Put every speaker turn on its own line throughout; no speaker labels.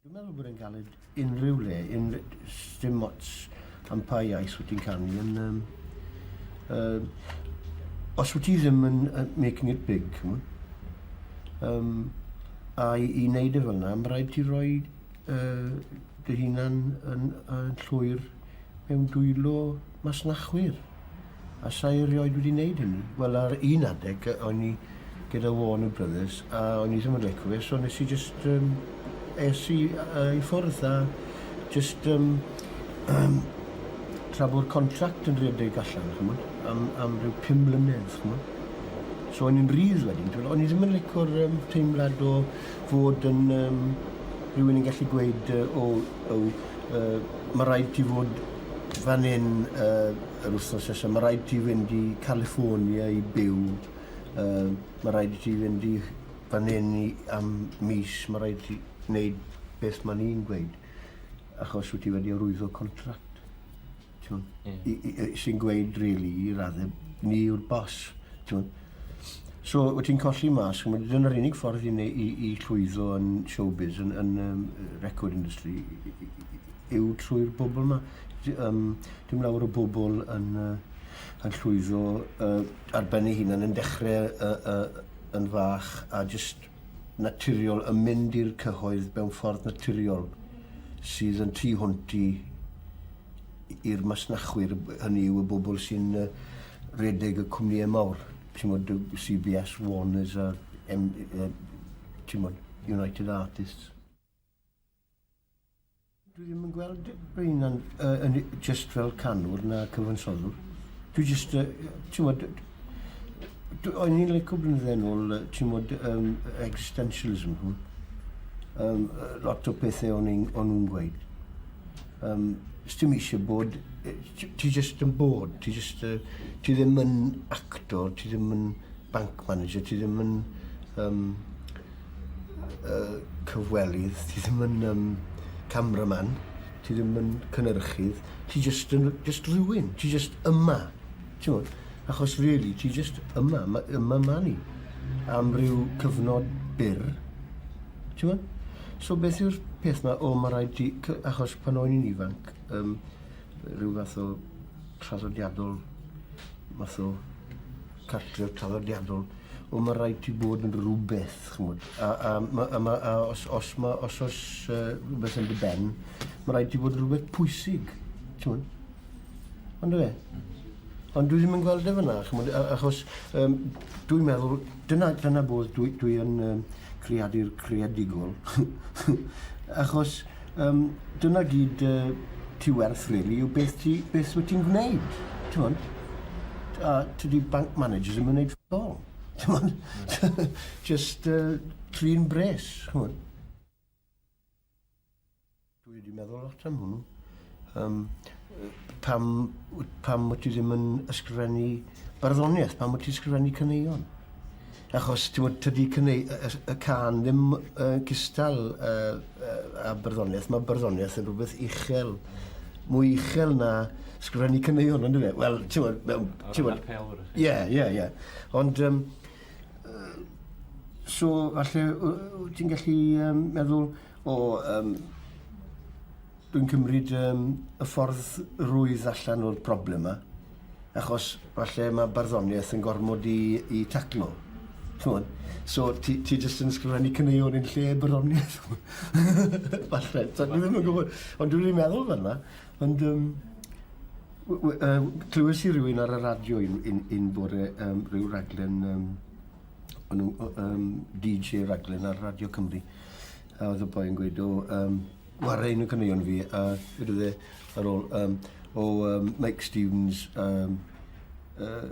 Dwi'n meddwl bod e'n galed unrhyw le, unrhyw, dim ots am pa iaith wyt ti'n canu. Yn, um, uh, os wyt ti ddim yn uh, making it big, chymod, um, a i, i wneud e fel yna, mae rhaid ti roi uh, dy hunan yn, yn llwyr mewn dwylo masnachwyr. A sa i erioed wedi wneud hynny. Wel ar un adeg yy o'n i gyda Warner Brothers a o'n i ddim yn lico fe so nes i jyst yym es i yy i ffwrdd a jyst yym yym tra bo'r contract yn rhedeg allan ch'mod am am ryw pum mlynedd ch'mod. So o'n i'n rhydd wedyn t'mod o'n i ddim yn lico'r yym teimlad o fod yn yym rhywun yn gallu gweud yy o yw yy ma' raid ti fod fan 'yn yy Yr wythnos nesa ma raid ti fynd i California i byw yy ma raid i ti fynd i fan hyn i am mis ma raid ti neud beth ma ni'n gweud achos wyt ti wedi arwyddo contract t'mod i i yy sy'n gweud rili i radde ni yw'r boss t'mod So, wyt ti'n colli mas, chymod, dyna'r unig ffordd i, i, i llwyddo yn showbiz, yn, yn um, record industry, yw trwy'r bobl yma. Um, dim lawer o bobl yn, uh, yn llwyddo uh, ar ben ei hunan, yn dechrau uh, uh, yn fach a just naturiol yn mynd i'r cyhoedd mewn ffordd naturiol sydd yn tu hwnt i i'r masnachwyr, hynny yw y bobl sy'n redeg y cwmnïau mawr, tymod, CBS, Warners a M, uh, tymod, United Artists. Dwi ddim yn gweld Brynan uh, yn just fel canwr na cyfansoddwr. Dwi just, uh, tymod, o'n i'n leicio blynydde yn ôl, tymod, um, existentialism hwn. Um, lot o pethau o'n nhw'n gweud. Um, Stim eisiau bod, ti jyst yn bod, ti jyst, uh, ti ddim yn actor, ti ddim yn bank manager, ti ddim yn um, uh, cyfwelydd, ti ddim yn um, cameraman, ti ddim yn cynnyrchydd, ti jyst yn just rhywun, ti jyst yma. T'wod? Achos rili, ti jyst yma, ma- yma ma' ni am ryw cyfnod byr, t'wod? So beth yw'r peth 'ma, o ma' raid ti cy-... Achos pan o'n i'n ifanc, yym ryw fath o traddodiadol, math o cartref traddodiadol, o ma' raid ti bod yn rwbeth, ch'mod? A a ma' a ma' a os os ma' os o's yy rwbeth yn dy ben, ma' raid ti fod yn rwbeth pwysig, t'mod? Ond dwi e. Ond dwi ddim yn gweld e fyna, chymod, achos um, dwi'n meddwl, dyna, dyna bod dwi, dwi yn um, creadur creadigol. achos um, dyna gyd uh, ti werth, really, yw beth, ti, beth wyt ti'n gwneud. Ti'n a tydi bank managers yn gwneud ffol. Ti'n Just uh, trin bres, chymod. Dwi wedi meddwl lot am hwnnw. Yym pam pam wyt ti ddim yn ysgrifennu barddoniaeth? Pam wyt ti'n ysgrifennu caneuon? Achos t'mod tydi caneu- y y y cân ddim yy cystal yy yy â barddoniaeth, ma' barddoniaeth yn rwbeth uchel, mwy uchel na sgrifennu caneuon on'd yw e? Wel t'mod mewn t'mod... Ie ie ie. Ond yym So, falle wyt ti'n gallu um, meddwl o... Um, dwi'n cymryd um, y ffordd rwydd allan o'r broblem yma, achos falle mae barddoniaeth yn gormod i, i taclo. Chymod? So, ti, ti jyst yn ysgrifennu cyneuon yn lle barddoniaeth. falle, so, dwi ddim yn gwybod, ond dwi'n meddwl fel yna. Ond um, clywys i rywun ar y radio un, un, un bore um, rhyw raglen, um, nhw, um, DJ raglen ar Radio Cymru. A oedd y boi yn gweud, o, um, war ein y cyneuon fi, a wedi dde ar ôl, um, o um, Mike Stevens, um, uh,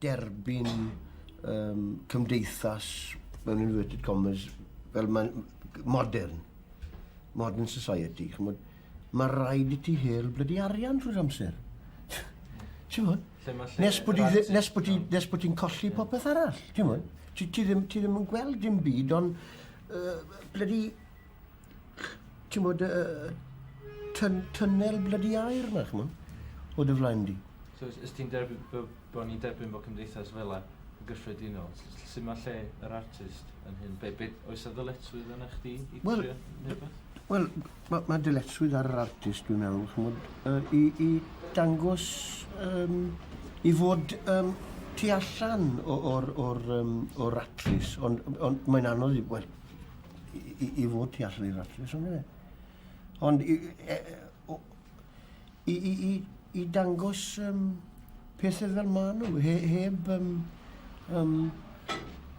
derbyn um, cymdeithas mewn inverted commas fel mae'n modern, modern society. Chymod, mae rhaid i ti hel blydi arian trwy'r amser. Ti'n mwyn? Nes bod ti'n colli popeth arall. Ti'n mwyn? Ti, ti, ddim, ti ddim yn gweld dim byd ond uh, blydi ti'n bod, uh, tyn, tynnel blydi air na, chymod, o dy flaen di. So, ys ti'n
derbyn, bod ni'n derbyn bod cymdeithas fel e, yn gyffredinol, sy'n mae lle yr artist yn hyn? Be, be, oes a ddyletswydd yna chdi i well, trio neu Wel,
mae ma dyletswydd ar yr artist, dwi'n meddwl, chymod, uh, i, i dangos, um, i fod um, tu allan o'r, or, or, um, or atlus, ond, ond mae'n anodd, wel, i, i fod tu allan i'r ratres, ond e. Ond i, e, o, i, i, i, i dangos um, pethau fel ma nhw, he, heb um, um,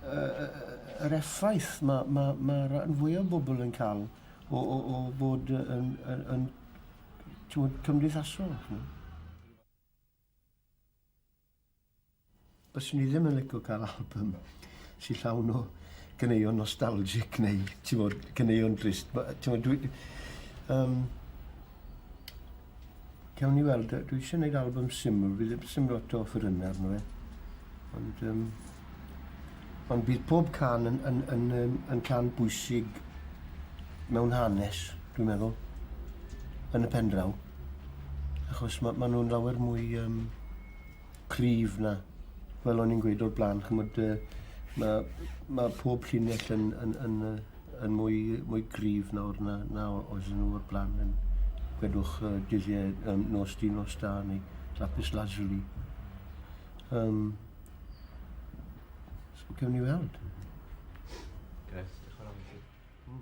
yr effaith mae ma, ma rhan fwy o bobl yn cael o, o, o bod yn, yn, yn, yn cymdeithasol. Byswn i ddim yn licio cael album sy'n llawn o gyneuon nostalgic neu, ti'n bod, gyneuon drist. Ti'n bod, dwi... Um, Cawn ni weld, dwi eisiau gwneud album syml, fi ddim syml lot o ffyrynau arno fe. Ond, um, ond bydd pob can yn, yn, yn, yn, yn can bwysig mewn hanes, dwi'n meddwl, yn y pen draw. Achos maen ma nhw'n lawer mwy... Um, cryf 'na. Fel o'n i'n gweud o'r bla'n ch'mod yy ma' ma' pob llinell yn yn yn yy yn mwy mwy cryf nawr na na o- oedden nhw o'r bla'n yn gwedwch yy dyddie yym nos di nos da neu lapis lazuli. Yym. So gewn ni weld. Grêt, dioch yn fawr i ti. Hmm.